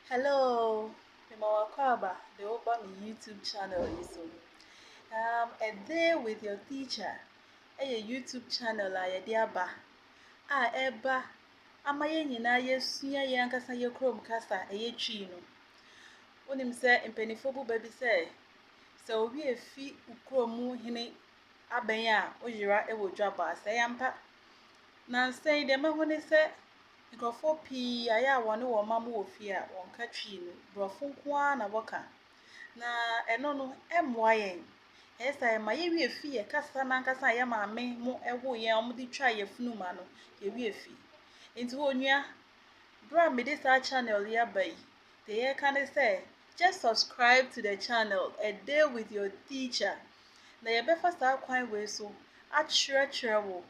Hello, mema wo akwaaba de wo ba me YouTube channel yi so. Um, A Day with Your Teacher ɛyɛ YouTube channel a yɛde aba a ɛba ama yɛn nyinaa yɛsua yɛn ankasa yɛ kurom kasa ɛyɛ Twi no. Wonim sɛ mpanimfoɔ bu bɛ bi sɛ sɛ obi efi kurom mu hene abɛn a woyera wɔ dwabɔ ase, ɛyɛ ampa? Nnansa yi, deɛ mahu ne sɛ nkurɔfoɔ pii ayɛ a wɔne wɔn mma wɔ fie a, wɔnka Twi no, Borɔfo nko ara na wɔka. Na ɛno no, ɛmmoa yɛn. Ɛyɛ saa a, ɛma yɛwerɛ fi yɛn kasa no ankasa a yɛn maame mo woo yɛn a wɔde twaa yɛn funu ma no, yɛwerɛ fi. Enti onua, berɛ a mede saa channel yi aba yi, deɛ yɛreka ne sɛ, just subscribe to the channel, A Day With Your Teacher. na yɛbɛfa saa kwan wei so akyerɛkyerɛ wo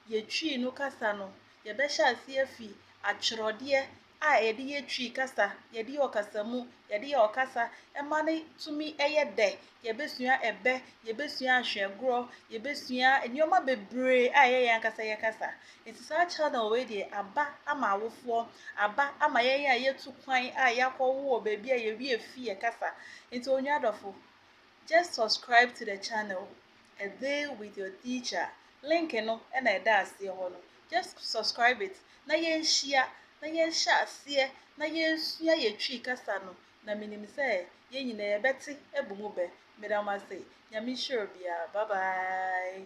yɛ Twi no kasa no. Yɛbɛhyɛ aseɛ afi atwerɛdeɛ a yɛde yɛ Twi kasa, yɛde yɛ ɔkasamu, yɛde yɛ ɔkasa ma no tumi yɛ dɛ. Yɛbɛsua ɛbɛ, yɛbɛsua ahwɛgorɔ, yɛbɛsua nneɛma bebree a ɛyɛ yɛn ankasa yɛ kasa. Nti saa channel wei deɛ aba ama awofoɔ, aba ama yɛn a yɛatu kwan a yɛakɔwo wɔ baabi a yɛwie fie kasa. Nti onua dɔfo. Just subscribe to the channel A Day With Your Teacher link no na ɛda aseɛ hɔ no just subscribe it na yɛnhyia na yɛnhyɛ aseɛ na yɛnsua yɛ Twi kasa no na menim sɛ yɛn nyinaa yɛbɛte abu mu bɛ. Meda mo ase. Nyame nhyira obiara. Bye bye.